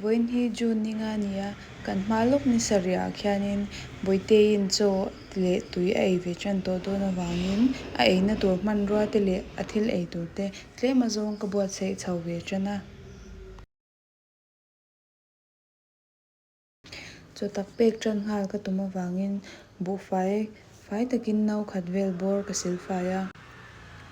Vawiin hi June ninga a ni a, kan hma lawk ni sarihah khianin Bawitein chaw leh tui a ei ve ṭan tawh dawn avangin a eina tur hmanrua te leh a thil ei tur te tlema zawng ka buatsaih chho ve ṭan a. Chutak pek tan nghal ka tum avangin buhfai fai takin no khat vel bawr ka sil fai a.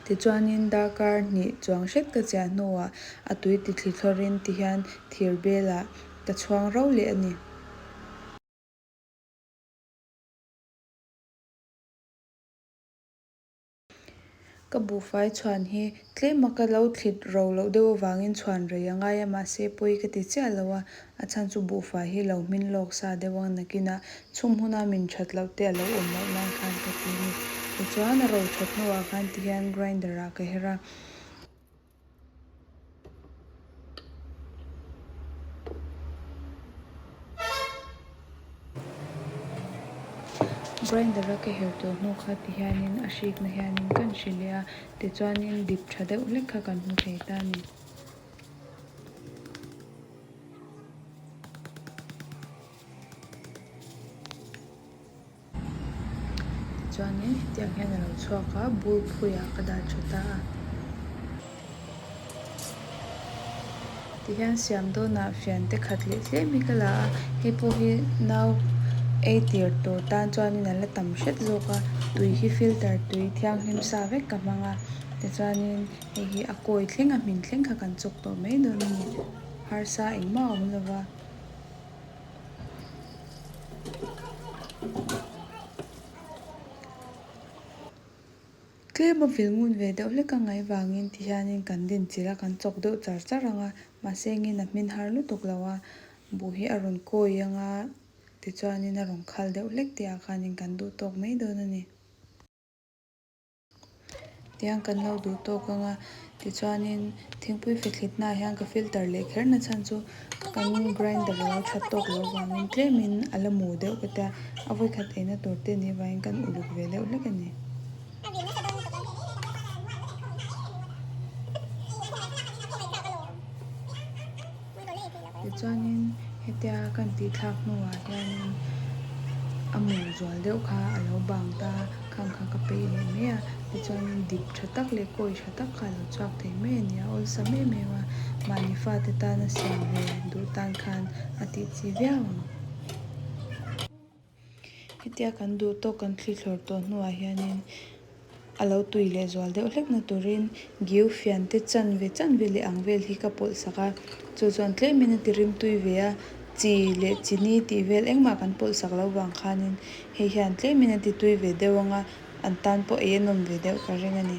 Tichuanin darkar hnih chuang hret ka chiah hnuah a tui ti thli thawrin ti hian thir belah ka chhuang rau leh a ni. Ka buhfai chhuan hi tlem a ka lo thlit ro loh deuh avangin chhuan rei a ngai a, mahse pawi ka ti chiah lo a, a chhan chu buhfai hi lo hmin lawk sa deuh ang nakin a chhum huna min that loh te a lo awm loh nan khan ka ti a ni. Tichuan a ro that hnuah khan tihian grinder-ah ka her a. Grinder a ka herh tur hnu kha ti hianin a hrikna hianin kan hre leh a, tichuanin dip tha deuh hlek kha kan hmu thei ta ni. Tichuanin hetiang hian a lo chhuak a, bul phuiah ka dah tha ta a. Tihian siam dawnah fiante khat leh tlem hi ka la a, hei pawh hi nau ei tir tur tan chuanin a la tam hret zawk a, tui hi filter tui thianghlim sa vek ka hmang a, tichuanin hei hi a kawi thleng a hmin thleng kha kan chawk tawh mai dawn a ni, harsa engmah a awm lova. Tlem avil ngun ve deuh hlek a ngai vangin ti hianin kan din chilh a, kan chawk deuh char char ang a, mahse engin a hmin har lutuk lo a, buh hi a rawn kawi ang a, tichuanin a rawn khal deuh hlek tihah khanin kan duh tawk mai dawn a ni. Tiang kan lo duh tawk ang a, tichuanin thingpui fethlit hnaah hian ka filter leh kher na chhan chu kan grinder a lo that tawk loh vangin tlemin a la mu deuh ka tia, a vawi khat eina tur te ni vangin kan uluk ve deuh hlek a ni. Tichuanin hetia kan tih thlak hnuah hianin a mur zual deuh kha a lo bang ta a, kham kha ka peih leh mai a, tichuanin dip tha tak leh kawi tha tak kha a lo chhuak thei mai a ni a, awlsam em em a, mahni fate tan a siam ve duh tan khan a tih chi viau ang. Hetia kan duh tawk, kan thli thlawr tawh hnuah hianin a lo tui leh zual deuh hlekna turin giu fian te chan ve chan ve leh ang vel hi ka pawlh sak a, chu chuan tlem in a ti rim tui ve a, chi leh chi ni tih vel engmah kan pawlh sak lo vang khanin hei hian tlem in a ti tui ve deuh ang a, an tan pawh ei a nawm ve deuh ka ring a ni.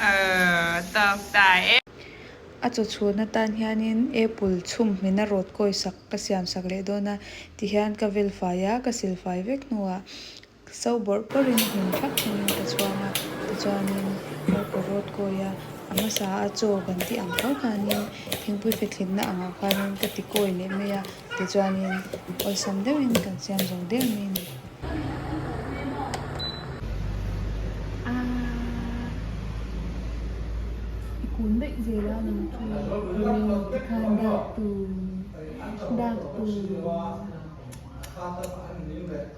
Aww tawk ta e. A chaw chhuan atan hianin apple chhum hmina rawt kawisak ka siamsak leh dawn a tihian ka vel fai a ka sil fai vek hnuah. Sau bawrh bawrh in hlim thlap thin in ka chuang a, tichuanin kar ka rawt kawi a, a hmasa a chaw kan tih ang kho khanin thingpui fethlimna angah khanin ka ti kawi leh mai a, tichuanin awlsam deuh in kan siam zo deuh mai a ni. I kun daih zel a ni chu heti khan dak tur dak tur.